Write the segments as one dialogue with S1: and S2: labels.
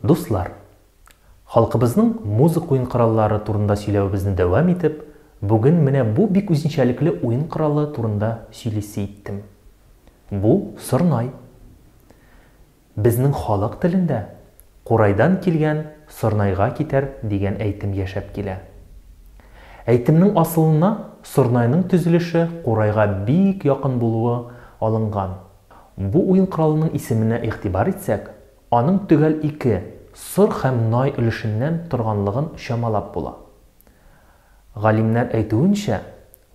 S1: Дуслар! Халкыбызның музык уен кораллары турында сөйләвебезне дәвам итеп, бүген менә бу бик үзенчәлекле уен коралы турында сөйлисе иттем. Бу, сорнай. Безнең халык телендә Курайдан килгән сорнайга китәр дигән әйтем яшәп килә. Әйтемнең асылына сорнайның төзелеше курайга бик якын булуы алынган. Бу уен коралының исеменә игътибар итсәк, Аның төгәл ике, сор һәм най өлешеннән торганлыгын чамалап була. Галимнәр әйтүенчә,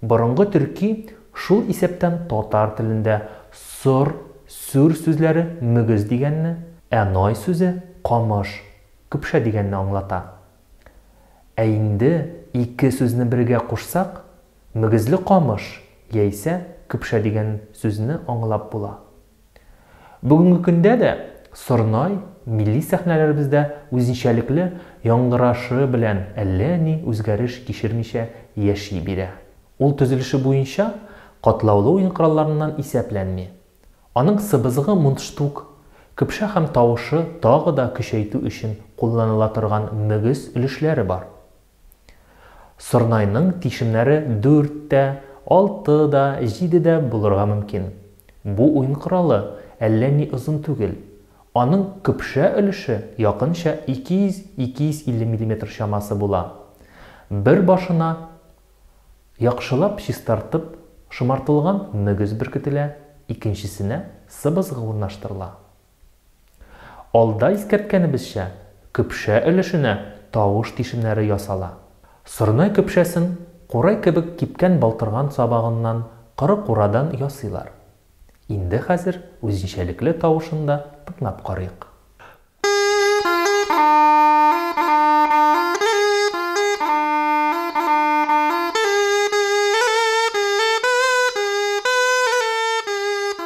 S1: борынгы төрки, шул исәптән татар телендә сор, сүр сүзләре мөгез дигәнне, ә най сүзе камыш, көпшә дигәнне аңлата. Ә инде ике сүзне бергә кушсак, мөгезле камыш яисә көпшә дигән сүзне аңлап була. Бүгенге көндә дә Сорнай милли сәхнәләребездә үзенчәлекле яңгырашы белән әллә ни үзгәреш кичермичә яши бирә. Ул төзелеше буенча катлаулы уен коралларыннан исәпләнми. Аның сыбызгы мундштук, көпшә һәм тавышы тагы да көчәйтү өчен кулланыла торган мөгез өлешләре бар. Сорнайның тишемнәре дүрт тә, алты да, җиде дә булырга мөмкин. Бу уен коралы әллә ни озын түгел. Аның көпшә өлеше якынча 200-250 миллиметр чамасы була. Бер башына яхшылап чистартып шомартылган мөгез беркетелә, икенчесенә сыбызгы урнаштырыла. Алда искәрткәнебезчә, көпшә өлешенә тавыш тишемнәре ясала. Сорнай көпшәсен курай кебек кипкән балтырган сабагыннан коры курадан ясыйлар. Инде хәзер үзенчәлекле тавышын да тыңлап карыйк.